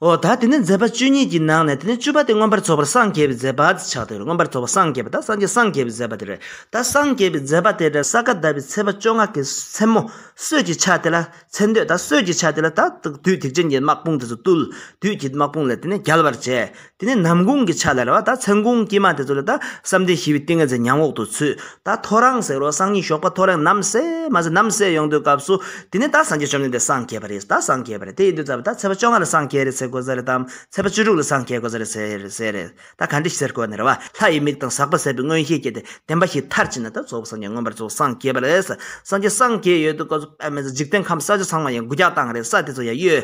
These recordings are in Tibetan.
འོ་ད་དེ་ནས་མཛད་པ་བཅུ་གཉིས་ཀྱི་ནང་ནས་དེ་ནས་བཅུ་པ་དེ་མངོན་པར་རྫོགས་པར་སངས་རྒྱས་པའི་མཛད་པ་ཅེས་བྱ་སྟེ་མངོན་པར་རྫོགས་པར་སངས་རྒྱས་པ་དང་སངས་རྒྱས་སངས་རྒྱས་པའི་མཛད་པ་དེ་རེད། ད་སངས་རྒྱས་པའི་མཛད་པ་དེ་ནས་ས་ག་ཟླ་བའི་ཚེས་པ་བཅོ་ལྔ་གའི་མཚན་མོ་སྲོད་ཀྱི་ཆ་དེ་ལ་ཚེ་འདོད་དང་སྲོད་ཀྱི་ཆ་དེ་ལ་ད་དུས་ཐེག་ཆེན་གྱི་དམག་དཔུང་དེ་ཚོ་བཏུལ། དུས་ཀྱི་དམག་དཔུང་ལས་དེ་ནས་རྒྱལ་བར་བྱས། དེ་ནས་ནམ་གུང་གི་ཆ་ལ་རེད་བ་ད་མཚན་གུང་དཀྱིལ་མ་དེ་ཚོ་ལ་ད་བསམ་གཏན་ཞི་བའི་ཏིང་ངེ་འཛིན་ཉམས་འོག་ཏུ་ཚུད་ད་ཐོ་རངས་ཟེར་རོ་སང་ཉིན་ཞོགས་པ་ཐོ་རེངས་ནམ་ཟས་མ་ཟས་ནམ་ཟས་ཡོང་དུས་སྐབས་སུ་དེ་ནས་ད་སངས་རྒྱས་བཅོམ་ལྡན་འདས་སངས་རྒྱས་པ་རེད་ད་སངས་རྒྱས་པ་རེད་དེ་ཡིན་དུས་ད་ཚེས་པ་བཅོ་ལྔ་ལ་སངས་རྒྱས་རེད་ཟེར་དགོས་ས་རེད་དམ་ཚེས་པ་བཅུ་དྲུག་ལ་སངས་རྒྱས་དགོས་ས་རེད་ཟེར་ཟེར་རེད་ད་ག་འདྲི་ཟེར་དགོས་ནི་རེད་བ་ལྷ་ཡི་མིག་དང་ཟག་པ་ཟད་པའི་མངོན་ཤེས་སྐྱེས་ཏེ་བདེན་པ་ཞིག་མཐར་ཕྱིན་ན་ད་གཙོ་བོ་སངས་རྒྱས་མངོན་པར་རྫོགས་སངས་རྒྱས་པ་རེད་སངས་རྒྱས་སངས་རྒྱས་ཡོད་དུས་སྐབས་སུ་པདྨ་ཚེ་འཇིག་རྟེན་ཁམས་ས་ཆ་ཚང་མ་ཡང་དགུ་བརྒྱ་དང་རེ་ས་དེ་ཚོ་ཡང་གཡོས།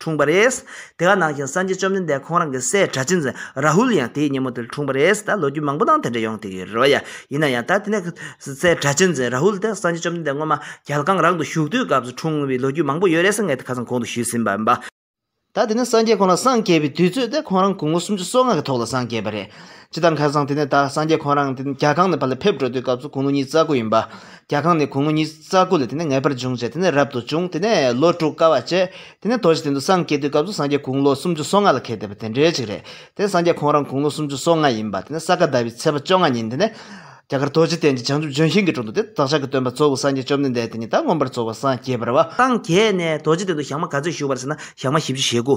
འཁྲུངས་པ་རེད། དེ་ག་ནང་བཞིན་སངས་རྒྱས་བཅོམ་ལྡན་འདས་ཁོང་རང་གི་སྲས་གྲྭ་ཆེན་རཱ་ཧུལ་ཡང་དེའི་ཉིན་མོ་དེར་འཁྲུངས་པ་རེད། ད་ལོ་རྒྱུས་མང་པོ་ནང་དེ་འདྲ་ཡོང་ཐེ་གི་རེད་བ་ཡ། ཡིན་ན་ཡང་ད་དེ་ནས་སྲས་གྲྭ་ཆེན་རཱ་ཧུལ་དེ་སངས་རྒྱས་བཅོམ་ལྡན་འདས་སྔོན་མ་རྒྱལ་ཁང་རང་དུ་བཞུགས་དུས་སྐབས་སུ་འཁྲུངས་བའི་ལོ་རྒྱུས་མང་པོ་ཡོད་རེད་ས་ངས་དེ་ཁ་སང་གོང་དུ་ཞུས་ཟིན་པ་ཡིན་པ། ད་དེ་ནས་སངས་རྒྱས་ཁོང་རང་སངས་རྒྱས་པའི་དུས་ཚོད་དེ་ཁོང་རང་དགུང་ལོ་སུམ་ཅུ་སོ་ལྔ་གི་ཐོག་ལ་སངས་རྒྱས་པ་རེད། ཇི་ལྟར་མཁར་བཟང་དེ་ནས་ད་སངས་རྒྱས་ཁོང་རང་རྒྱ་གང་ནས་བར་ལ་ཕེབས་འགྲོ་དུས་སྐབས་སུ་གུང་ལོ་ཉིས་རྩ་དགུ་ཡིན་པ། རྒྱ་གང་ནས་གུང་ལོ་ཉིས་རྩ་དགུ་ལ་དེ་ནས་ངེས་པར་འབྱུང་བྱས་དེ་ནས་རབ་ཏུ་བྱུང་དེ་ནས་ལོ་དྲུག་དཀའ་བ་སྤྱད། དེ་ནས་དོ་བཞི་སྟེང་དུ་སངས་རྒྱས་དུས་སྐབས་སུ་སངས་རྒྱས་གུང་ལོ་སུམ་ཅུ་སོ་ལྔ་ལ་ཁེལ་བསྡད་པ་དེ་འདྲའི་ཅིག་རེད། དེ་ནས་སངས་རྒྱས་ཁོང་རང་གུང་ལོ་སུམ་ཅུ་སོ་ལྔ་ཡིན་པ་དེ་ནས་ས་ག་ཟླ་བའི་ཚེས་པ་བཅོ་ལྔ་ཉིན་དེ་ནས། རྒྱ་གར་རྡོ་རྗེ་གདན་གྱི་བྱང་ཆུབ་ལྗོན་ཤིང་གི་དྲུང་དུ་དེ་བདག་ཅག་གི་སྟོན་པ་གཙོ་བོ་སངས་རྒྱས་བཅོམ་ལྡན་འདས་དེ་ཉིད་དང་མངོན་པར་རྫོགས་པ་སངས་རྒྱས་པར་བ། སངས་རྒྱས་ནས་རྡོ་རྗེ་གདན་དུ་ཞག་མ་ག་ཚོད་བཞུགས་པར་ཟེར་ན་ཞག་མ་བཞི་བཅུ་ཞེ་དགུ།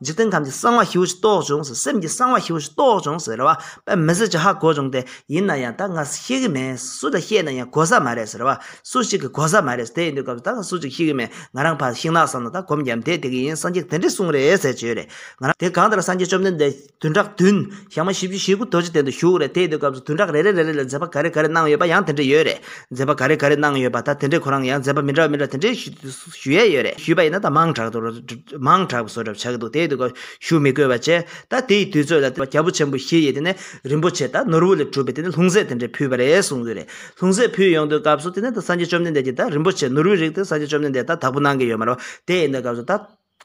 འཇིག་རྟེན་ཁམས་ཀྱི་གསང་བ་ཧྲིལ་བོ་ཞིག་རྟོགས་བྱུང་ཟེར་སེམས་ཀྱི་གསང་བ་ཧྲིལ་བོ་ཞིག་རྟོགས་བྱུང་ཟེར་བ་པད་མི་སེར་གྱིས་ཧ་གོ་བྱུང་སྟེ་ཡིན་ན་ཡང་ད་སྔ་ཤེས་ཀྱི་མེད་སུ་ལ་བཤད་ན་ཡང་གོ་ས་མ་རེད་ཟེར་བ་སུ་ཞིག་གིས་གོ་ས་མ་རེད་དེ་ཡིན་དུས་སྐབས་སུ་ད་སྔ་སུ་ཞིག་ཤེས་ཀྱི་མེད་ང་རང་ཕར་ཤིང་ནགས་སམ་ན་ད་གོམ་རྒྱབ་འདེད་དེ་གི་ཡིན་སངས་རྒྱས་དེ་འདྲས་གསུངས་རེད་ཟེར་བྱོས་རེད་ང་རང་དེ་གང་ལྟར་སངས་རྒྱས་བཅོམ་ལྡན་འདས་བདུན་ཕྲག་བདུན་ཞག་མ་བཞི་བཅུ་ཞེ་དགུ་རྡོ་རྗེ་གདན་དུ་བཞུགས་རེད་དེ་ཡིན་དུས་སྐབས་སུ་བདུན་ཕྲག་རེ་རེ་རེ་རེ་ལ་མཛད་པ་ག་རེ་ག་རེ་གནང་ཡོད་པ་ཡང་དེ་འདྲས་ཡོད་རེད་མཛད་པ་ག་རེ་ག་རེ་གནང་ཡོད་པ་ད་དེ་འདྲས་ཁོ་རང་ཡང་མཛད་པ་མི་འདྲ་བ་མི་འདྲ་བ་དེ་འདྲས་ཞུས་དུས་སུ། ཞུ་ཡས་ཡོད་རེད་ཞུས་པ་ཡིན་ན་ད་མང་དྲག་དུ་མང་དྲག་བཟོ་གྲབས་བྱ་གི་འདུག་དེའི་དུས་སྐབས་ཞུ་མི་དགོས་པ་བྱས་ད་དེའི་དུས་ཚོད་ལ་རྒྱ་བོ་ཆེན་པོ་བཞི་ཡིས་དེ་ནས་རིན་པོ་ཆེ་ད་ནོར་བུ་ལས་གྲུབ་པའི་དེ་ནས་ལྷུང་བཟེད་དེ་འདྲས་ཕུལ་བ་རེད་གསུངས་གི་རེད་ལྷུང་བཟེད་ཕུལ་ཡོང་དུས་སྐབས་སུ་དེ་ནས་ད་སངས་རྒྱས་བཅོམ་ལྡན་འདས་ཀྱིས་ད་རིན་པོ་ཆེ་ནོར་བུའི་རིགས་དེ་སངས་རྒྱས་བཅོམ་ལྡན་འདས་ད་དག་པོ་གནང་གི་ཡོད་མ་རེད་བ་དེ་ཡིན་ད་སྐབས་སུ་ད་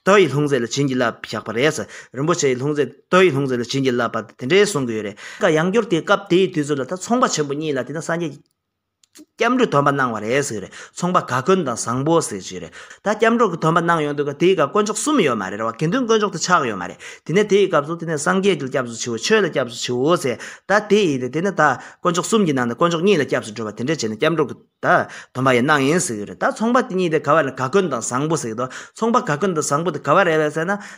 ད་ཡི་ལྷུང་བཟེད་ལ་བྱིན་གྱིས་བརླབས་བཞག་པ་རེད་རིན་པོ་ཆེ་ཡི་ལྷུང་བཟེད་ད་ཡི་ལྷུང་བཟེད་ལ་བྱིན་གྱིས་བརླབས་པ་དེ་འདྲས་གསུངས་གི་ཡོད་རེད། ཡང་བསྐྱུར་དེའི་སྐབས་དེའི་དུས་ཚོད་ལ་ད་ཚོང་པ་ཆེན་པོ་གཉིས་ལ་དེ་ནས་སངས་རྒྱས། སྐྱབས་འགྲོ་དོན་པ་གནང་བ་རེད་ཟེར་རེད་ཚོང་པ་ག་དཀོན་དང་བཟང་པོ་ཟེར་གྱི་རེད་ད་སྐྱབས་འགྲོ་གི་དོན་པ་གནང་ཡོང་དུས་ཀ་དེའི་སྐབས་དཀོན་མཆོག་གསུམ་ཡོད་མ་རེད་ར་བ་དགེ་འདུན་དཀོན་མཆོག་དེ་ཆགས་ཡོད་མ་རེད་དེ་ནས་དེའི་སྐབས་སུ་དེ་ནས་སངས་རྒྱས་ཀྱི་ལ་སྐྱབས་སུ་མཆིའོ་ཆོས་ལ་སྐྱབས་སུ་མཆིའོ་ཟེར་ད་དེ་ཡིན་ཏེ་དེ་ནས་ད་དཀོན་མཆོག་གསུམ་གྱི་ནང་ནས་དཀོན་མཆོག་གཉིས་ལ་སྐྱབས་སུ་འགྲོ་བ་དེ་འདྲས་བྱས་ནས་སྐྱབས་འགྲོ་གི་ད་དོན་པ་ཡང་གནང་ཡིན་ཟེར་གྱི་རེད་ད་ཚོང་པ་དེ་གཉིས་དེ་ག་བ་རེད་ག་དཀོན་དང་བཟང་པོ་ཟེར་གྱི་འདུག་ཚོང་པ་ག་དཀོན་དང་བཟང་པོ་དེ་ག་བ་རེད་བས་ཟེར་ན།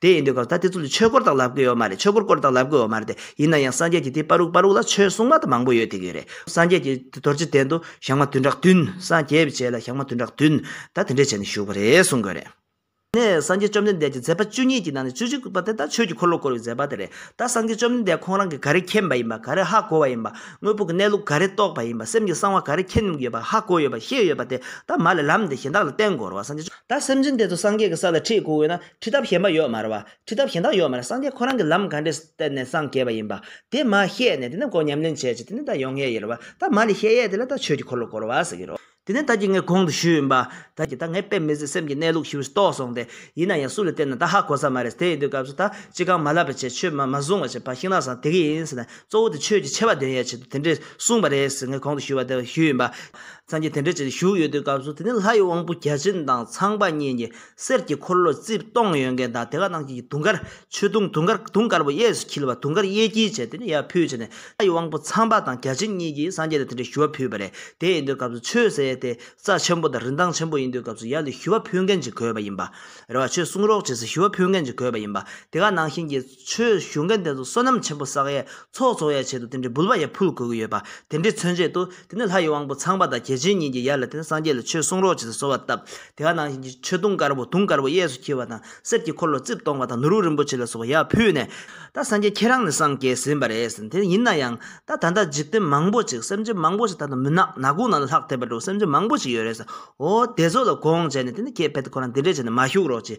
དེ་ཡིན་དུས་སྐབས་ད་དེ་ཚོ་ལ་ཆོས་སྐོར་དག་ལབ་དགོས་ཡོད་མ་རེད་ཆོས་སྐོར་སྐོར་དག་ལབ་དགོས་ཡོད་མ་རེད་དེ། ཡིན་ན་ཡང་སངས་རྒྱས་ཀྱི་དེ་པར་རུག་པར་རུག་ལ་ཆོས་སྲུང་མ་དང་མང་པོ་ཡོད་དེ་གི་རེད། སངས་རྒྱས་ཀྱི་དེ་རྡོ་རྗེ་གདན་དུ་ཞག་མ་བདུན་ཕྲག་བདུན། སངས་རྒྱས་བྱས་ལ་ཞག་མ་བདུན་ཕྲག་བདུན། ད་དེ་འདྲས་བྱས་ནས་བཞུགས་པ་རེད་གསུང་དགོས་རེད། ནས་སངས་རྒྱས་བཅོམ་ལྡན་འདས་ཀྱི་མཛད་པ་བཅུ་གཉིས་ཀྱི་ནང་ནས་བཅུ་གཅིག་པ་དེ་ད་ཆོས་ཀྱི་འཁོར་ལོ་བསྐོར་བའི་མཛད་པ་དེ་རེད། ད་སངས་རྒྱས་བཅོམ་ལྡན་འདས་ཁོང་རང་གིས་ག་རེ་མཁྱེན་པ་ཡིན་པ་ག་རེ་ཧ་གོ་བ་ཡིན་པ། དངོས་པོ་གི་གནས་ལུགས་ག་རེ་རྟོགས་པ་ཡིན་པ་སེམས་ཀྱི་གསང་བ་ག་རེ་མཁྱེན་ཡོད་པ་ཧ་གོ་ཡོད་པ་ཤེས་ཡོད་པ་དེ་ད་མ་ལས་ལམ་འདི་གཞན་དག་ལ་བསྟན་དགོས་རུང་བ་སངས་རྒྱས། ད་སེམས་ཅན་དེ་ཚོ་སངས་རྒྱས་ཀྱི་ས་ལ་ཁྲིད་དགོས་འོས་ན། ཁྲིད་ཐབས་གཞན་པ་ཡོད་མ་རེད་བ། ཁྲིད་ཐབས་གཞན་དག་ཡོད་མ་རེད་སངས་རྒྱས་ཁོ་རང་གི་ལམ་ག་འདྲས་བསྟན་ནས་སངས་རྒྱས་པ་ཡིན་པ། དེ་མ་ཤེས་ནས་དེ་ནས་འགོ་ཉམས་ལེན་བྱས་རྗེས་དེ་ནས་ད་ཡོང་ངེས་ཡོད་རེད་བ། ད་མ་ལས་ཤེས་ཡས་དེ་ལ་ད་ཆོས་ཀྱི་འཁོར་ལོ་བསྐོར་བ་ཟེར་གྱི་རོ། དེ་ནས་ད་ཀྱི་ངས་གོང་དུ་ཞུས་ཡིན་པ། ད་ཀྱི་ད་ངས་དཔེ་མི་ཟིན་སེམས་ཀྱི་གནས་ལུགས་ཞིབ་རྟོགས་སོང་སྟེ། ཡིན་ན་ཡང་སུ་ལ་བསྟན་ན་ད་ཧ་གོ་ས་མ་རེད་དེ་ཡིན་དུས་སྐབས་སུ་ད་ཅི་གང་མ་ལབ་པ་བྱས་ཆོས་མ་མ་བཟུང་བ་བྱས་ཕར་ཤིང་ནགས་སམ་དེ་གི་ཡིན་ཟེར་ན་གཙོ་བོ་དེ་ཆོས་ཀྱི་ཆེ་བ་འདོན་ཡས་ཆེད་དུ་དེ་འདྲས་གསུངས་པ་རེད་ཟེར་ངས་གོང་དུ་ཞུས་བ་དེ་ཞུས་ཡིན་པ། སངས་རྒྱས་དེ་འདྲས་བྱས་ཏེ་བཞུགས་ཡོད་དུས་སྐབས་སུ་དེ་ནས་ལྷ་ཡི་དབང་པོ་བརྒྱ་བྱིན་དང་ཚངས་པ་གཉིས་ཀྱིས་གསེར་གྱི་འཁོར་ལོ་རྩིབས་སྟོང་ཡོད་མཁན་དང་དེ་ག་ནང་བཞིན་དུང་དཀར་ཆོས་དུང་དུང་དཀར་དུང་དཀར་པོ་གཡས་སུ་འཁྱིལ་བ་དུང་དཀར་གཡས་འཁྱིལ་བྱས་ཏེ་ནི་ཡར་ཕུད་བྱས་ནས་ལྷ་ཡི་དབང་པོ་ཚངས་པ་དང་བརྒྱ་བྱིན་གཉིས་ཀྱིས་སངས་རྒྱས་ལ་དེ་འདྲའི་ཞུ་བ་ཕུལ་བ་རེད་དེ་ཡིན་དུས་སྐབས་སུ་ཆོས་ཟེར་ཡས་དེ་རྩ་ཆེན་པོ་དང་རིན་ཐང་ཆེན་པོ་ཡིན་དུས་སྐབས་སུ་ཡར་ལ་ཞུ་བ་ཕུལ་མཁན་གྱི་གོས་པ་ཡིན་པ་རེད་བ་ཆོས་གསུང་རོགས་བྱེད་སའི་ཞུ་བ་ཕུལ་མཁན་གྱི་གོས་པ་ཡིན་པ་དེ་ག་ནང་བཞིན་གྱི། ཆོས་ཞུ་མཁན་དེ་ཚོ་བསོད་ནམས་ཆེན་པོ་བསགས་ཡས་ཚོགས་རྫོགས་ཡས་ཆེད་དུ་དེ་འདྲའི་འབུལ་བ་ཡས་ཕུལ་དགོས་ཀྱི་ཡོད་པ་དེ་འདྲའི་མཚོན་བྱེད་དུ་དེ་ནས་ལྷ་ཡི་དབང་པོ་ཚངས་པ་དང་རྒྱལ་ཆེན་གཉིས་ཀྱིས་ཡར་ལ་དེ་ནས་སངས་རྒྱས་ལ་ཆོས་གསུང་རོགས་བྱེད་ཚེ་གསོལ་བ་བཏབ་དེ་ག་ནང་བཞིན་གྱི་མཆོད་སྡོང་དཀར་པོ་དུང་དཀར་པོ་གཡས་སུ་འཁྱིལ་བ་དང་གསེར་གྱི་འཁོར་ལོ་རྩིབས་སྟོང་པ་དང་ནོར་བུ་རིན་པོ་ཆེ་ལ་སོགས་པ་ཡར་ཕུལ་ནས། ད་སངས་རྒྱས་ཁྱེད་རང་ནས་སངས་རྒྱས་ཟིན་པ་རེད་ཟེར་དེ་ཡིན་ན་ཡང་ད་ད་ལྟ་འཇིག་རྟེན་མང་པོ་ཅིག་སེམས་ཅན་མང་པོ་ཞིག་ད་ལྟ་མུན་ནག་ནག་ཀུན་ནང་ལ་ལྷག་ཐེབས་པ་འདྲ་བོ་སེམས་ཅན་མང་པོ་ཅིག་ཡོད་རེད་ཟེར་འོ་དེ་ཚོ་ལ་དགོངས་བྱས་ནས་དེ་ནས་ཁྱེད་ཕལ་ཏེ་ཁོ་རང་འདི་འདྲས་བྱས་ནས་མ་བཞུགས་རོགས་ཅེས་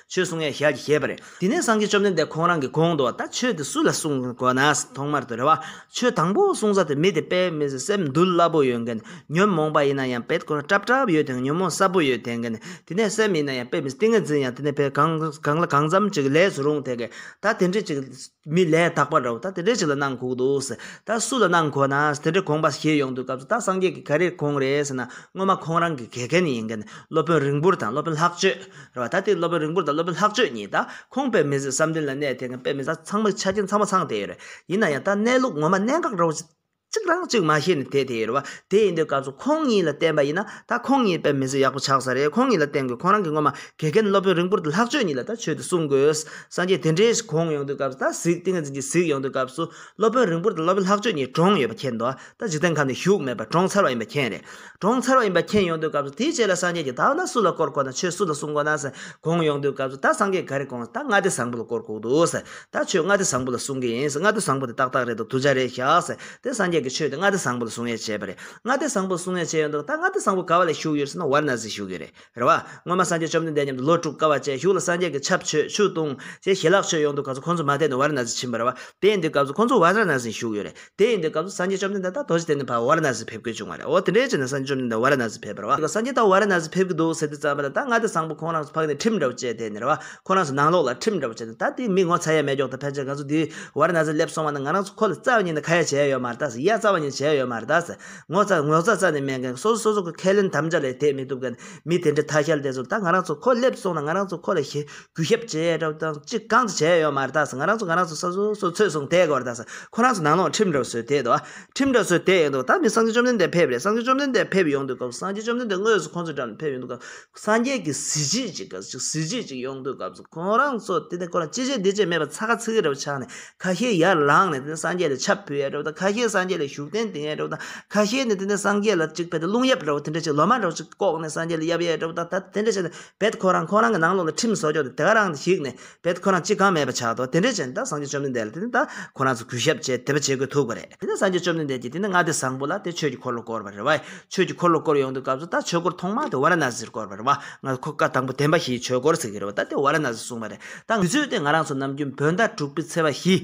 ཆོས་གསུང་ཡང་ཞལ་གྱིས་བཞེས་པ་རེད། དེ་ནས་སངས་རྒྱས་བཅོམ་ལྡན་འདས་ཁོང་རང་གིས་དགོངས་འདུག་ད་ཆོས་དེ་སུ་ལ་གསུང་དགོས་ན། ཐོག་མར་དུ་རེ་བ། ཆོས་དང་པོ་གསུང་ས་དེ་མི་དེ་དཔེ་མི་ཟེར་སེམས་འདུལ་སླ་པོ་ཡོད་མཁན། ཉོན་མོངས་པ་ཡིན་ན་ཡང་དཔེ་ཁོ་ན་བྲབ་བྲབ་ཡོད་དེ་ཉོན་མོངས་སྲབ་པོ་ཡོད་དེ་མཁན། དེ་ནས་སེམས་ཡིན་ན་ཡང་དཔེ་མི་ཟེར་ཏིང་ངེ་འཛིན་ཡང་དེ་ནས་དཔེ་གང་ལ་གང་འཚམ་ཅིག་ལས་སུ་རུང་དེ་མཁན། ད་དེ་འདྲས་ཅིག། མི་ལས་དག་པར་རོ། ད་དེ་འདྲས་ཅིག་ལ་གནང་ཁུག་འདུག། ད་སུ་ལ་གནང་ཁོ་ན། དེ་འདྲས་གོང་པ་ཞེས་ཡོང་དུས་སྐབས་སུ་ད་སངས་རྒྱས་ཀྱི་ག་རེ་གོང་རེད་ཟེར་ན་སྔོན་མ་ཁོང་རང་གི་ག་གལ་ནི་ཡིན་གལ་ནི་སློབ་དཔོན་རིང་པོར་དང་སློབ་དཔོན་ལྷག་སྤྱོད་རེད་བ། ད་དེ་སློབ་དཔོན་རིང་པོར་དང་སློབ་དཔོན་ལྷག་སྤྱོད་གཉིས་ད་ཁོང་དཔེ་མི་ཟིག་བསམ་གཏན་ལ་གནས་དེ་གནས་དཔེ་མི་ཟ་ཚང་མ་ཆ་རྐྱེན་ཚང་མ་ཚང་དེ་ཡོད་རེད་ཡིན་ན་ཡང་ད་གནས་ལུགས་ངོ་མ་གནད་འགག་རེད་བ། གཅིག་རང་གཅིག་མ་ཤེས་ནས་དེད་དེ་ཡོད་རེད་བ། དེ་ཡིན་དུས་སྐབས་སུ་ཁོང་གཉིས་ལ་བསྟན་པ་ཡིན་ན་ད་ཁོང་གཉིས་དཔེ་མི་བཟོད་ཡག་པོ་ཆགས་ས་རེད་ཁོང་གཉིས་ལ་བསྟན་དགོས་ཁོང་རང་གིས་ངོ་མ་དགེ་རྒན་སློབ་དཔོན་རིང་པོར་དུ་ལྷག་སྤྱོད་གཉིས་ལ་ད་ཆོས་དུ་གསུང་དགོས་སངས་རྒྱས་དེ་འདྲའི་གོང་ཡོང་དུས་སྐབས་སུ་ད་གཟིགས་ཏིང་ངེ་འཛིན་གྱི་གཟིགས་ཡོང་དུས་སྐབས་སུ་སློབ་དཔོན་རིང་པོར་དུ་སློབ་དཔོན་ལྷག་སྤྱོད་གཉིས་གྲོངས་ཡོད་པ་མཁྱེན་འདུག་ད་འཇིག་རྟེན་ཁམས་ནས་ཞུགས་མེད་པར་གྲོངས་ཚར་བ་ཡིན་པ་མཁྱེན་རེད་གྲོང་ཚར་བ་ཡིན་པ་མཁྱེན་ཡོང་དུས་སྐབས་སུ་དེའི་རྗེས་ལ་སངས་རྒྱས་ཀྱི་བདག་ལ་སུ་ལ་བསྐོར་དགོས་ན་ཆོས་སུ་ལ་གསུང་དགོས་ན་དགོངས་ཡོང་དུས་སྐབས་སུ་ད་སངས་རྒྱས་ག་རེ་དགོངས་ད་ལྔ་སྡེ་བཟང་པོ་ལ་བསྐོར་དགོས་འདུག་ད་ཆོས་ལྔ་སྡེ་བཟང་པོ་ལ་གསུང་གི་ཡིན་ལྔ་སྡེ་བཟང་པོ་དེ་ཏག་ཏག་རེད་འདུག་དུ་བྱ་རེད་བཞག་དེ་སངས་རྒྱས་ཀྱི་ཆོས་དེ་ལྔ་སྡེ་བཟང་པོ་ལ་གསུང་ཡས་བྱས་པ་རེད་ལྔ་སྡེ་བཟང་པོ་ལ་གསུང་ཡས་བྱས་ཡོང་དུས་ད་ལྔ་སྡེ་བཟང་པོ་ག་བ་ལ་བཞུགས་ཡོད་ཟེར་ན་བར་ན་ཟིག་བཞུགས་ཡོད་རེད། རེ་བ། སྔོན་མ་སངས་རྒྱས་བཅོམ་ལྡན་འདས་མཉམ་དུ་ལོ་དཀྲུག་དཀའ་བ་ཅན་བཞུགས་ལ་སངས་རྒྱས་ཀྱི་ཆབ་ཆོས་ཆུ་བཏུང། ཞེས་ཞལ་ལག་མཆོད་ཡོང་དུས་ག་ཚོད་ཁོང་ཚོ་མ་བསྡད་ནས་བར་ན་གཟིགས་ཕྱིན་པ་རེ་བ། དེ་འདུལ་སྐབས་སུ་ཁོང་ཚོ་བར་ན་གཟིགས་བཞུགས་ཡོད་རེད། དེ་ཡིན་དུས་སྐབས་སུ་སངས་རྒྱས་བཅོམ་ལྡན་འདས་དང་རྡོ་རྗེ་གཏན་ནས་བར་བར་ན་གཟིགས་ཕེབས་དགོས་བྱུང་བ་རེད། འོ་དེ་འདྲའི་ཕྱིར་ན་སངས་རྒྱས་བཅོམ་ལྡན་འདས་བར་ན་གཟིགས་ཕེབས་པར་རེ་བ། སངས་རྒྱས་ད་བར་ན་གཟིགས་ཕེབས་ཀྱི་འདུག་ཟེར་དུས་ཙམ་རེ་ད་ང་དེ་བཟང་པོ་ཁོང་རང་ཚོ་ཕག་ནས་ཁྲིམས་འདྲ་བོ་བཅད་དེ་རེ་བ། ཁོ་རང་ཚོ་ནང་ལོགས་ལ་ཁྲིམས་འདྲ་བོ་བཅད་ནས་ད་དེའི་མི་ངོ་ཚ་ཡས་མས་འཇོག་དང་ཕལ་ཆེར་ང་ཚོ་འདིའི་བར་ན་གཟིགས་སླེབས་སོང་བ་ན་ང་རང་ཚོ་ཁོ་ལ་རྩ་བ་ཉིད་ནས་ཁ་ཡ་བྱས་ཡོད་མ་རེད་དཱ་ཟེར་ཡ་རྩ་བ་ཉིད་བྱས་ཡོད་མ་རེད་དཱ་ཟེར། ངོ་ཚ་ངོ་ཚ་ཚ་ནས་སྨད་མཁན་སོ་སོ་སོ་སོ་གི་ཁས་ལེན་དམ་བཅའ་ལས་དེད་མི་ཐུབ་མཁན་མི་དེ་འདྲའི་ཐ་ཤལ་དེ་ཚོར་ད་ང་རང་ཚོ་ཁོ་སླེབས་སོང་ན་ང་རང་ཚོ་ཁོ་ལ་ཞེ་གུས་ཞབས་ཇེ་དྲག་དང་གཅིག་གང་ཅི་བྱས་ཡོད་མ་རེད་ད་ང་རང་ཚོ་ང་རང་ཚོ་ས་སོ་སོ་ཚོད་སོང་དེ་གོར་ད་ཁོ་རང་ཚོ་ནང་ལོག་ཁྲིམས་འདྲ་བཟོས་དེད་འདུག་ཁྲིམས་འདྲ་བཟོས་དེད་ཡོད་འདུག་ད་མི་སངས་རྒྱས་བཅོམ་ལྡན་འདས་ཕེབས་རེད་སངས་རྒྱས་བཅོམ་ལྡན་འདས་ཕེབས་ཡོང་དུས་སྐབས་སངས་རྒྱས་བཅོམ་ལྡན་འདས་དངོས་སུ་ཁོང་ཚོའི་འགྲམ་ནས་ཕེབས་ཡོང་དུས་སྐབས་སངས་རྒྱས་ཀྱི་གཟི་བརྗིད་ཅིག་གཟི་བརྗིད་ཅིག་ཡོང་དུས་སྐབས་ཁོ་རང་ཚོ་དེ་ནས་ཁོ་རང་ཅི་བྱས་འདི་བྱས་མེད་པར་ཚ་ཁ་ཚིག་རེ་བ་ཆགས་ནས་ཁ་ཤས་ཡར་ལངས་ནས་དེ་ནས་སངས་རྒྱས་ལ་ཆབ་ཕུལ་ཡས་འགྲོ་བ་དང་ཁ་ཤས་སངས་རྒྱས་ལ་བཞུགས་གདན་འདིང་ཡས་འགྲོ་བ་དང་ཁ་ཤས་ནི་དེ་ནས་སངས་རྒྱས་ལ་གཅིག་ཕེབས་ཏེ་རླུང་གཡབ་འགྲོ་བ་དེ་འདྲ་བྱས་ལོ་མང་འགྲོ་ཞིག་ལྐོག་ནས་སངས་རྒྱས་ལ་གཡབ་ཡས་འགྲོ་བ་དང་ད་དེ་འདྲ་བྱས་ནས་བད་ཁོ་རང་ཁོ་རང་གི་ནང་ལོགས་ལ་ཁྲིམས་བཟོ་ཆོག་དེ་ག་རང་ཞིག་ནས་བད་ཁོ་རང་ཅི་གང་མེད་པ་ཆགས་འདུག་དེ་འདྲ་བྱས་ནས་ད་སངས་རྒྱས་བཅོམ་ལྡན་འདས་ལ་དེ་ནས་ད་ཁོ་རང་ཚོ་གུས་ཞབས་བྱས་དེ་པ་བྱེད་དགོས་ཐུག་པ་རེད་དེ་ནས་སངས་རྒྱས་བཅོམ་ལྡན་འདས་ཀྱིས་དེ་ནས་མངའ་སྡེ་བཟང་པོ་ལ་དེ་ཆོས་ཀྱི་འཁོར་ལོ་བསྐོར་བ་རེད་བ་ཆོས་ཀྱི་འཁོར་ལོ་བསྐོར་ཡོང་དུས་སྐབས་སུ་ད་ཆོས་འཁོར་ཐོག་མ་དེ་ཝཱ་ར་ན་སིར་བསྐོར་བ་རེད་བ་སྔར་ཁོ་བཀའ་དང་པོ་བསྟན་པ་བཞིའི་ཆོས་འཁོར་ཟེར་གྱི་རེད་བ་ད་དེ་ཝཱ་ར་ན་སི་གསུངས་པ་རེད་དང་དུས་ཚོད་དེ་ང་རང་ཚོ་ནམ་རྒྱུན་བོད་ཟླ་དྲུག་པའི་ཚེས་པ་བཞི།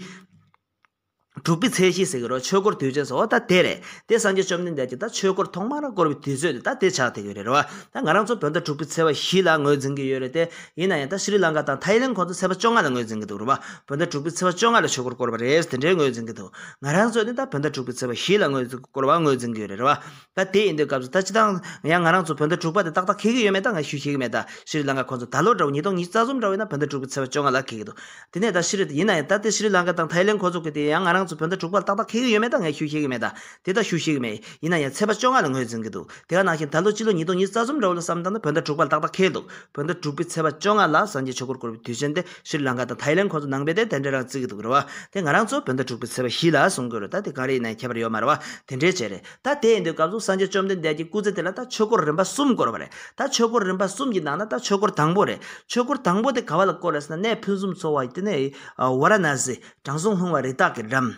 དྲུག་པའི་ཚེས་བཞི་ཟེར་གི་རོ་ཆོས་འཁོར་དུས་ཆེན་སོགས་ད་དེ་རེད། དེ་སངས་རྒྱས་བཅོམ་ལྡན་འདས་ཀྱིས་ད་ཆོས་འཁོར་ཐོག་མར་བསྐོར་བའི་དུས་ཚོད་ནི་ད་དེ་ཆགས་ཐེག་ཡོད་རེད་རོ། ད་ང་རང་ཚོ་བོད་ཟླ་དྲུག་པའི་ཚེས་པ་བཞི་ལ་ངོས་འཛིན་གྱི་ཡོད་རེད་དེ། ཡིན་ན་ཡང་ད་ཤི་རི་ལང་ཀ་དང་ཐའི་ཡི་ལེན་ཁོང་ཚོ་ཚེས་པ་བཅོ་ལྔ་ལ་ངོས་འཛིན་གྱི་འདུག་རོ། བོད་ཟླ་དྲུག་པའི་ཚེས་པ་བཅོ་ལྔ་ལ་ཆོས་འཁོར་བསྐོར་བ་རེད་དེ་འདྲའི་ངོས་འཛིན་གྱི་འདུག་ང་རང་ཚོ་ནི་ད་བོད་ཟླ་དྲུག་པའི་ཚེས་པ་བཞི་ལ་ངོས་བསྐོར་བ་ངོས་འཛིན་གྱི་ཡོད་རེད་རོ། ད་དེ་ཡིན་དུས་སྐབས་སུ་ད་ཅི་སྟངས། ཡང་ང་རང་ཚོ་བོད་ཟླ་དྲུག་པ་དེ་ཏག་ཏག་ཁེལ་གི་ཡོད་མེད་ད་ང་ཞུས་ཤེས་ཀྱི་མེད་ད་ཤི་རི་ལང་ཀ་ཁོ་ཚོ་ད་ལོ་འདྲ་བོ་ཉིས་སྟོང་ཉིས་རྩ་གསུམ་འདྲ་བོ་ཡིན་ན་བོད་ཟླ་དྲུག་པའི་ཚེས་བཅོ་ལྔ་ལ་ཁེལ་གྱི་འདུག་དེ་ནས་ད་ཤི་རི་ཡིན་ན་ཡང་ད་དེ་ཤི་རི་ལང་ཀ་དང་ཐའི་ལེན་ཁོ་ཚོ་གི་དེ་ཡང་ང་རང་ཚོ་བོད་ཟླ་དྲུག་པ་ལ་ཏག་ཏག་ཁེལ་གི་ཡོད་མེད་ད་ང་ཞུས་ཤེས་ཀྱི་མེད་ད་དེ་ད་ཞུས་ཤེས་ཀྱི་མེད་ཡིན་ན་ཡང་ཚེས་པ་བཅོ་ལྔ་ལ་ངོས་འཛིན་གྱི་འདུག་དེ་ག་ནང་བཞིན་ད་ལོ་ཕྱི་ལོ་ཉིས་སྟོང་ཉིས་རྩ་གསུམ་འདྲ་བོ་ལ་བསམ་སྟངས་ན་བོད་ཟླ་དྲུག་པ་ལ་ཏག་ཏག་ཁེལ་འདུག་བོད་ཟླ་དྲུག་པའི་ཚེས་པ་བཅོ་ལྔ་ལ་སངས་རྒྱས་ཆོས་འཁོར་བསྐོར་བའི་དུས་ཆེན་དེ་ཤི་རི་ལང་ཀ་དང་ཐའི་ལེན་ཁོ་ཚོ་ནང་པའི་དེ་དེ་འདྲས་རང་བརྩིས་ཀྱི་འདུག་རེད་བ་དེ་ང་རང་ཚོ་བོད་ཟླ་དྲུག་པའི་ཚེས་པ་བཞི་ལ་གསུང་དགོས་རེད་ད་དེ་གང་རེད་ཡིན་ན་ཡང་ཁྱད་པར་ཡོད་མ་རེད་བ་དེ་འདྲས་བྱས་རེད། ད་དེ་ཡིན་དུས་སྐབས་གསུམ་སངས་རྒྱས་བཅོམ་ལྡན་འདས་ཀྱི་སྐུ་ཚེ་དེ་ལ་ད་ཆོས་འཁོར་རིམ་པ་གསུམ་བསྐོར་བ་རེད། ད་ཆོས་འཁོར་རིམ་པ་གསུམ་གྱི་ནང་ན་ད་ཆོས་འཁོར་དང་པོ་རེད། ཆོས་འཁོར་དང་པོ་དེ་ག་བ་ལ་བསྐོར་བ་ཟེར་ན་གནས་ཕུན་སུམ་ཚོགས་བ་དེ་ནས་ཝཱ་ར་ན་སི་དྲང་སྲོང་ལྷུང་བ་རི་དྭགས་ཀྱི་འགྲམ།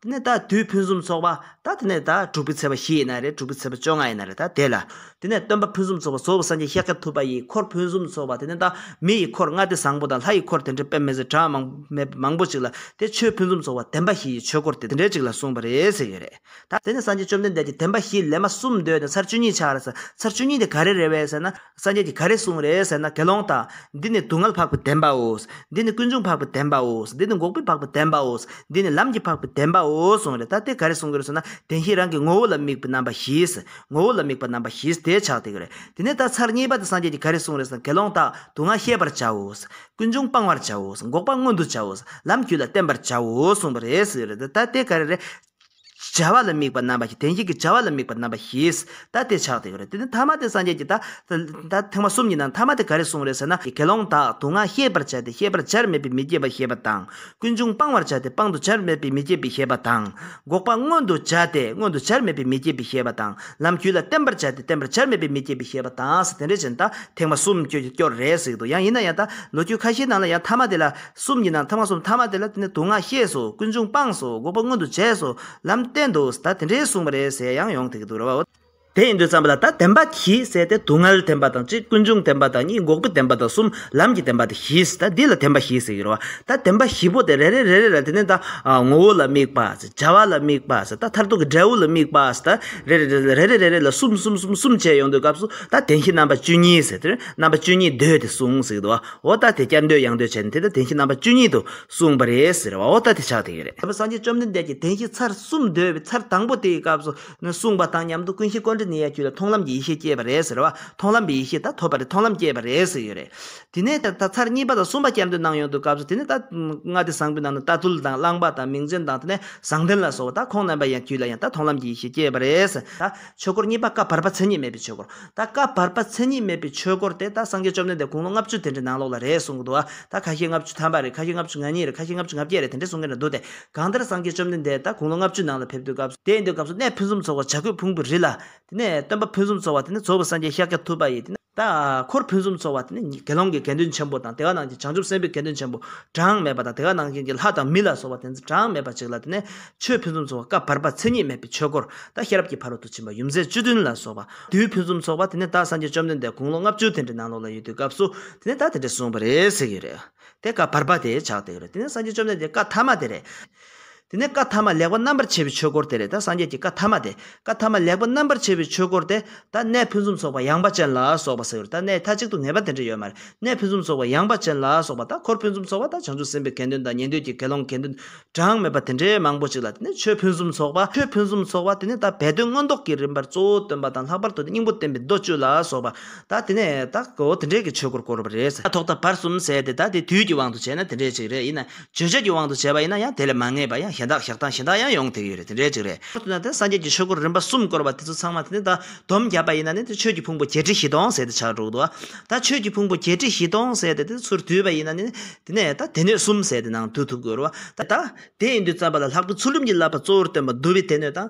དེ་ནས་ད་དུས་ཕུན་སུམ་ཚོགས་པ་ད་དེ་ནས་ད་དྲུག་པའི་ཚེས་པ་བཞི་ཡི་ན་རེད་དྲུག་པའི་ཚེས་པ་བཅོ་ལྔ་ཡི་ན་རེད་ད་དེ་ལ། དེ་ནས་སྟོན་པ་ཕུན་སུམ་ཚོགས་པ་བཟོ་བོ་སངས་རྒྱས་ཤཱཀྱ་ཐུབ་པ་ཡི་འཁོར་ཕུན་སུམ་ཚོགས་པ་དེ་ནས་ད་མི་ཡི་འཁོར་ལྔ་སྟེ་བཟང་པོ་དང་ལྷ་ཡི་འཁོར་དེ་འདྲའི་དཔེ་མེད་ཟེར་གྲངས་མང་མེད་མང་པོ་ཅིག་ལ་དེ་ཆོས་ཕུན་སུམ་ཚོགས་པ་བདེན་པ་བཞི་ཡི་ཆོས་འཁོར་དེ་འདྲའི་ཅིག་ལ་གསུངས་པ་རེད་ཟེར་གྱི་རེད། དེ་ནས་སངས་རྒྱས་བཅོམ་ལྡན་འདས་ཀྱིས་དེ་འབའ་ཞིག་ལས་མ་གསུམ་འདོད་ནས་ཚར་བཅུ་གཉིས་ཆགས་རེ་ཟེར་ཚར་བཅུ་གཉིས་དེ་ག་རེ་རེད་བས་ཟེར་ན་སངས་རྒྱས་ཀྱིས་ག་རེ་གསུངས་རེད་ཟེར་ན་དགེ་སློང་དག། འདི་ནི་སྡུག་བསྔལ་འཕགས་པའི་བདེན་པའོ། འདི་ནི་ཀུན་འབྱུང་འཕགས་པའི་བདེན་པའོ། འདི་ནི་འགོག་པའི་འཕགས་པའི་བདེན་པའོ། འདི་ནི་ལམ་གྱི་འཕགས་པའི་བདེན་པའོ་གསུངས་རེད་ད་དེ་ག་རེ་གསུངས་གི་རེད་ཟེར་ན་བདེན་བཞིའི་རང་གི་ངོ་བོ་ལ་དམིགས་པའི་རྣམ་པ་བཞིས། ངོ་བོ་ལ་དམིགས་པ་རྣམ་པ་བཞིས་དེ་ཆགས་དེ་ག་རེ། དེ་ནས་ད་ཚར་གཉིས་པ་དེ་སངས་རྒྱས་ཀྱིས་ག་རེ་གསུངས་རེད་ཟེར་ན་དགེ་སློང་དག་སྡུག་བསྔལ་ཤེས་པར་བྱའོ། ཀུན་འབྱུང་སྤང་བར་བྱའོ། འགོག་པ་མངོན་དུ་བྱའོ། ལམ་རྒྱུད་ལ་བརྟེན་པར་བྱའོ་གསུངས་པ་རེད་ཟེར་གི་རེད་ད་དེ་ག་རེ་རེད། བྱ་བ་ལ་དམིགས་པ་རྣམ་པ་བཞི་དེ་བཞིན་གྱི་བྱ་བ་ལ་དམིགས་པ་རྣམ་པ་བཞིས་ད་དེ་ཆགས་ཏེ་ཡོད་རེད་དེ་ནི་ཐ་མ་དེ་སངས་རྒྱས་ཀྱིས་ད་ཐེངས་མ་གསུམ་གྱི་ནང་ཐ་མ་དེ་ག་རེ་གསུངས་རེད་ཟེར་ན་དགེ་སློང་དག་དུག་ལྔ་ཤེས་པར་བྱ་སྟེ་ཤེས་པར་བྱར་མེད་པའི་མི་སྐྱེ་བ་ཤེས་པ་དང་ཀུན་འབྱུང་སྤང་བར་བྱ་སྟེ་སྤང་དུ་བྱར་མེད་པའི་མི་སྐྱེ་བའི་ཤེས་པ་དང། འགོག་པ་མངོན་དུ་བྱ་སྟེ་མངོན་དུ་བྱར་མེད་པའི་མི་སྐྱེ་བའི་ཤེས་པ་དང་ལམ་རྒྱུད་ལ་བརྟན་པར་བྱ་སྟེ་བརྟན་པར་བྱར་མེད་པའི་མི་སྐྱེ་བའི་ཤེས་པ་དང་དེ་འདྲ་བྱས་ན་ད་ཐེངས་མ་གསུམ་སྐྱོ་རེད་ཟེར་གྱི་འདུག་ཡང་ཡིན་ན་ཡང་ད་ལོ་རྒྱུས་ཁ་ཤས་ནང་ལ་ཡང་ཐ་མ་དེ་ལ་གསུམ་ཡིན་ན་ཐ་མ་གསུམ་ཐ་མ་དེ་ལ་དེ་ནི་དུག་ལྔ་ཤེས་སོ་ཀུན་འབྱུང་སྤངས་སོ་འགོག་པ་མངོན་དུ་བྱས་སོ་ལམ་བསྟན་འདུག་ད་དེ་འདྲའི་གསུངས་པ་རེད་ཟེར་ཡང་ཡོང་ཐེག་གི་འདུག་རེད་བ། དེ་ཡིན་དུས་བརྩམས་པ་ལ་ད་བདེན་པ་གྱིས་བསལ་ཏེ་དུག་ལྔལ་བདེན་པ་དང་གཅིག་ཀུན་འབྱུང་བདེན་པ་དང་གཉིས་འགོག་པའི་བདེན་པ་དང་གསུམ་ལམ་གྱི་བདེན་པ་དེ་བཞིས་ད་འདི་ལ་བདེན་པ་བཞི་ཟེར་གི་རེད་བ། ད་བདེན་པ་བཞི་པོ་དེ་རེ་རེ་རེ་རེ་ལ་དེ་ནི་ད་ངོ་བོ་ལ་དམིགས་པ་བྱ་བ་ལ་དམིགས་པ་ད་མཐར་ཐུག་གི་འབྲས་བུ་ལ་དམིགས་པ་ད་རེ་རེ་རེ་ལ་རེ་རེ་རེ་རེ་ལ་གསུམ་གསུམ་གསུམ་གསུམ་བྱས་ཡོང་དུས་སྐབས་སུ་ད་བདེན་བཞི་རྣམ་པ་བཅུ་གཉིས་ཟེར་དེ་རེད་རྣམ་པ་བཅུ་གཉིས་ཟློས་ཏེ་གསུངས་ཟེར་གི་འདུག་བ། འོ་ད་དེ་སྐྱར་འདོད་ཡང་འདོད་བྱས་ནས་དེ་ལྟར་དེང་ཕྱིན་རྣམ་པ་བཅུ་གཉིས་དུ་གསུངས་པ་རེད་ཟེར་བའོ་ད་དེ་ཆགས་དེ་ཡོད་རེད། དེ་བས་སངས་རྒྱས་བཅོམ་ལྡན་འདས་ཀྱིས་དེང་ཕྱིན་ཚར་གསུམ་འདོད་པའི་ཚར་དང་པོ་དེའི་སྐབས་སུ་གསུངས་པ་དང་མཉམ་དུ་ཀུན་གཞི་ཀོ་འདྲི་ནི་ཡ་བཅུ་ལས་མཐོང་ལམ་གྱི་ཡེ་ཤེས་སྐྱེས་པ་རེད་ཟེར་བ་མཐོང་ལམ་པའི་ཡེ་ཤེས་དག་ཐོབ་པ་རེད་མཐོང་ལམ་སྐྱེས་པ་རེད་ཟེར་ཡོད་རེད། དེ་ནས་ད་ལྟ་ཚར་གཉིས་པ་དང་གསུམ་པ་སྐྱར་འདོད་གནང་ཡོང་དུས་སྐབས་སུ་དེ་ནས་ད་ལྔ་སྡེ་བཟང་པོའི་ནང་ན་རྟ་ཐུལ་དང་གླང་པ་དང་མིང་ཅན་དང་དེ་ནས་བཟང་ལྡན་ལ་སོགས་པ་དག་ཁོང་རྣམ་པ་ཡང་བརྒྱུད་ལ་ཡང་དག་མཐོང་ལམ་གྱི་ཡེ་ཤེས་སྐྱེས་པ་རེད། ཆོས་འཁོར་གཉིས་པ་བཀའ་བར་པ་མཚན་ཉིད་མེད་པའི་ཆོས་འཁོར། ད་བཀའ་བར་པ་མཚན་ཉིད་མེད་པའི་ཆོས་འཁོར་དེ་ད་སངས་རྒྱས་བཅོམ་ལྡན་འདས་དགུང་ལོ་ལྔ་བཅུ་དེ་འདྲའི་ནང་ལོགས་ལ་རེད་གསུང་གི་འདུག་ཨ། ད་ཁ་ཤས་ལྔ་བཅུ་ཐམ་པ་རེད་ཁ་ཤས་ལྔ་བཅུ་ང་གཉིས་རེད་ཁ་ཤས་ལྔ་བཅུ་ང་བརྒྱད་རེད་དེ་འདྲས་གསུང་གི་ན་འདུག་དེ། གང་ལྟར་སངས་རྒྱས་བཅོམ་ལྡན་འདས་ད་དགུང་ལོ་ལྔ་བཅུའི་ནང་ལ་ཕེབས་དུས་སྐབས་སུ། དེ་ཡིན་དུས་སྐབས་སུ་གནས་ཕུན་སུམ་ཚོགས་བ་བྱ་རྒོད་ཕུང་པོ་རི་ལ། དེ་ནས་སྟོན་པ་ཕུན་སུམ་ཚོགས་བ་དེ་ནས་ཛོ་བོ་སངས་རྒྱས་ཤཱཀྱ་ཐུབ་པ་ཡིས་དེ་ནས། ད་འཁོར་ཕུན་སུམ་ཚོགས་བ་དེ་ནི་དགེ་སློང་གི་དགེ་འདུན་ཆེན་པོ་དང་དེ་ག་ནང་བཞིན་བྱང་ཆུབ་སེམས་དཔའི་དགེ་འདུན་ཆེན་པོ་གྲངས་མེད་པ་དང་དེ་ག་ནང་བཞིན་གྱི་ལྷ་དང་མི་ལ་སོགས་པ་དེ་ཚོ་གྲངས་མེད་པ་ཅིག་ལ་དེ་ནས་ཆོས་ཕུན་སུམ་ཚོགས་བ་སྐབས་བར་པ་མཚན་ཉིད་མེད་པའི་ཆོས་འཁོར་དང་ཤེས་རབ་ཀྱི་ཕ་རོལ་ཏུ་ཕྱིན་པ་ཡུམ་རྩེ་བཅུ་བདུན་ལ་སོགས་པ་དུས་ཕུན་སུམ་ཚོགས་པ་དེ་ནི་ད་སངས་རྒྱས་བཅོམ་ལྡན་འདས་དགུང་ལོ་ལྔ་བཅུ་དེ་འདྲའི་ནང་ལོགས་ལ་ཡོད་དུས་སྐབས་སུ་དེ་ནི་ད་དེ་འདྲའི་གསུངས་པ་རེད་ཟེར་གྱི་ཡོད་རེད་དེ་སྐབས་བར་པ་དེ་ཆགས་འདུག་རེད་དེ་ནི་སངས་རྒྱས་བཅོམ་ལྡན་འདས་བཀའ་མཐའ་མ་དེ་རེད། དེ་ནས་བཀའ་ཐ་མ་ལེགས་པར་རྣམ་པར་ཕྱེ་བའི་ཆོས་སྐོར་དེ་རེད་ད་སངས་རྒྱས་ཀྱི་བཀའ་ཐ་མ་དེ་བཀའ་ཐ་མ་ལེགས་པར་རྣམ་པར་ཕྱེ་བའི་ཆོས་སྐོར་དེ་ད་གནས་ཕུན་སུམ་ཚོགས་པ་ཡངས་པ་ཅན་ལ་སོགས་པ་ཟེར་རོ་ད་གནས་མཐའ་གཅིག་ཏུ་ངེས་པ་དེ་འདྲ་ཡོད་མ་རེད་གནས་ཕུན་སུམ་ཚོགས་པ་ཡངས་པ་ཅན་ལ་སོགས་པ་ད་འཁོར་ཕུན་སུམ་ཚོགས་པ་ད་བྱང་ཆུབ་སེམས་དཔའི་དགེ་འདུན་དང་ཉན་ཐོས་ཀྱི་དགེ་སློང་དགེ་འདུན་གྲངས་མེད་པ་དེ་འདྲའི་མང་པོ་ཅིག་ལ་དེ་ནས་ཆོས་ཕུན་སུམ་ཚོགས་པ་ཆོས་ཕུན་སུམ་ཚོགས་པ་དེ་ནས་ད་སྦས་དོན་མངོན་རྟོགས་ཀྱི་རིམ་པར་གཙོ་བོ་སྟོན་པ་དང་ལྷག་པར་དུ་དེ་སྙིང་པོ་བསྟན་པའི་མདོ་བཅུ་ལ་སོགས་པ་ད་དེ་ནས་ད་གོ་དེ་འདྲའི་གི་ཆོས་སྐོར་བསྐོར་བ་རེད། ཐོག་མཐའ་བར་གསུམ་ཟད་དེ་ད་དེ་དུས་ཀྱི་དབང་དུ་བྱས་ན་དེ་འདྲའི་ཅིག་རེད་ཡིན་ན་བརྗོད་བྱེད་ཀྱི་དབང་དུ་བྱས་པ་ཡིན་ན་ཡང་དེ་ལས་མ་ངེས་པ་ཡང་གཞན་དག་བཞག་སྟངས་གཞན་དག་ཡང་ཡོང་ཐེག་ཡོད་རེད་དེ་འདྲའི་གཅིག་རེད། མཐར་ཐུག་ན་དེ་སངས་རྒྱས་ཀྱི་ཆོས་སྐུར་རིམ་པ་གསུམ་བསྐོར་བ་དེ་ཚོ་ཚང་མ་དེ་ནི་ད་དོམ་བརྒྱབ་པ་ཡིན་ན་ནི་དེ་ཆོས་ཀྱི་ཕུང་པོ་བརྒྱད་ཁྲི་བཞི་སྟོང་ཟེར་ཏེ་ཆགས་འགྲོ་གི་འདུག་ཨ། ད་ཆོས་ཀྱི་ཕུང་པོ་བརྒྱད་ཁྲི་བཞི་སྟོང་ཟེར་ཏེ་དེ་ཚུར་བསྡུས་པ་ཡིན་ན་ནི། དེ་ནས་ད་དེ་ནོད་གསུམ་ཟེར་ཏེ་ནང་བསྡུ་ཐུབ་དགོས་རོ། ད། དེ་ཡིན་དུས་བརྩམས་པ་ལ་ལྷག་པའི་ཚུལ་ཁྲིམས་ཀྱི་བསླབ་པ་གཙོ་བོར་སྟོན་པ་བསྡུ་བའི་དེ་ནོད་དང་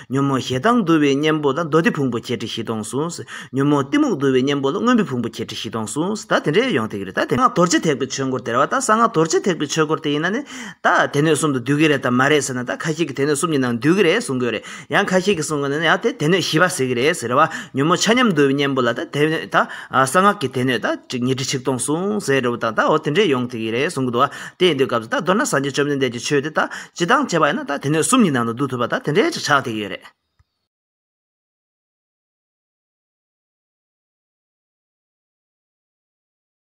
ཉོན་མོངས་ཞེ་སྡང་འདུལ་བའི་གཉེན་པོ་ལ་མདོ་སྡེ་ཕུང་པོ་བརྒྱད་ཁྲི་བཞི་སྟོང་གསུངས། ཉོན་མོངས་གཏི་མུག་འདུལ་བའི་གཉེན་པོ་ལ་དངོས་པོའི་ཕུང་པོ་བརྒྱད་ཁྲི་བཞི་སྟོང་གསུངས། ད་དེ་འདྲའི་ཡོངས་ཐེག་རེད་ད་དེ། སྔགས་རྡོ་རྗེ་ཐེག་པའི་ཆོས་འཁོར་དེར་བ་ད་གསང་སྔགས་རྡོ་རྗེ་ཐེག་པའི་ཆོས་འཁོར་དེ་ཡིན་ན་ནི། ད་དེ་སྣོད་གསུམ་དུ་འདུས་ཀྱི་རེད་དམ་མ་རེད་ཟེར་ན་ད་ཁ་ཤས་ཀྱིས་དེ་སྣོད་གསུམ་གྱི་ནང་འདུས་ཀྱི་རེད་གསུང་དགོས་རེད་ཡང་ཁ་ཤས་ཀྱིས་གསུང་གི་ནི་ཡང་དེ་དེ་སྣོད་བཞི་པ་ཟེར་གྱི་རེད་ཟེར་བ། ཉོན་མོངས་ཆ་མཉམ་འདུལ་བའི་གཉེན་པོ་ལ་ད་དེ་སྣོད་ད་གསང་སྔགས་ཀྱི་དེ་སྣོད་ད་ཅིག་ཉི་ཁྲི་ཆིག་སྟོང་གསུངས་ཟེར་རོ་ད་ད་འོ་དེ་འདྲའི་ཡོངས་ཐེག་ཡིན་རེད་གསུང་གི་འདུག་བ་དེ་ཡིན་དུས་སྐབས་སུ་ད་མདོར་ན་སངས་རྒྱས་བཅོམ་ལྡན་འདས་ཀྱི་ཆོས་དེ་ད་སྤྱི་བཏང་བྱས་པ་ཡིན་ན་ད་དེ་ནས་གསུམ་གཉིས་ནང་དུ་བསྡུ་ཐུབ་པ་ད་དེ་འདྲའི་ཅིག་ཆགས་ཐེག་ཡོད་རེད།